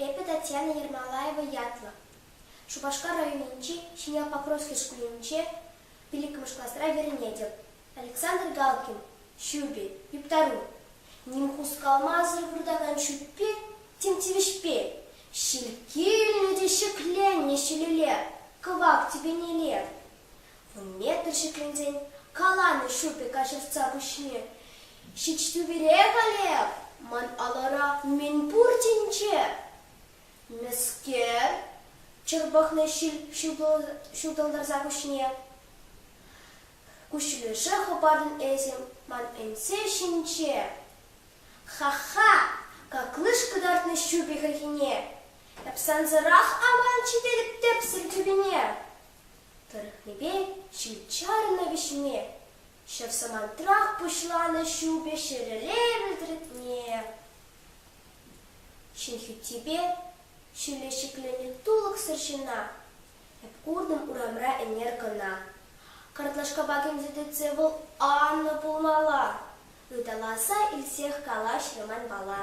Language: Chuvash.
Эпӗ Татьяна Ермолаева ятлӑ. Шупашкар районӗнчи Ҫӗньял-Покровски шкулӗнче пиллӗкмӗш класра вӗренетӗп. Александр Галкин, Ҫупи, Юптару, Ним хускалмасӑр выртакан ҫӳппе тем тивӗҫпе ҫилккелнӗ те ҫӗкленнӗ ҫӗлеле кӑвак тӗпенелле вун метр ҫӗкленсен каланӑ шӳрпе каҫӑртса пуҫне ҫич тӳперех, Олег, ман алӑра мӗн пур тӗнче. Мӗскер? чӑрпӑхнӑ ҫил ҫутӑлтарса пуҫне. Куҫлесе хӑпартӑн эсӗ ман ӗнсе ҫинче. Ха-ха! Каклыш кӑтартнӑ ҫупи хӗлхине! Эп сансӑрах аман ҫитерӗп тӗпсӗр тӳпене. Тӑрӑхнипе ҫил чарнӑ вӗҫме. Ҫав самантрах пуҫланӑ ҫупӗ ҫӗреле вӗлтӗретне. Ҫын хӳттипе ҫилле ҫӗкленӗ тулӑксӑр ҫына. Куртӑм урамра ӗнер кӑна. Картлашкапа кӗмсӗртетсе вӑл анлӑ пулмалла, ыталаса илсех калаҫрӗ манпала.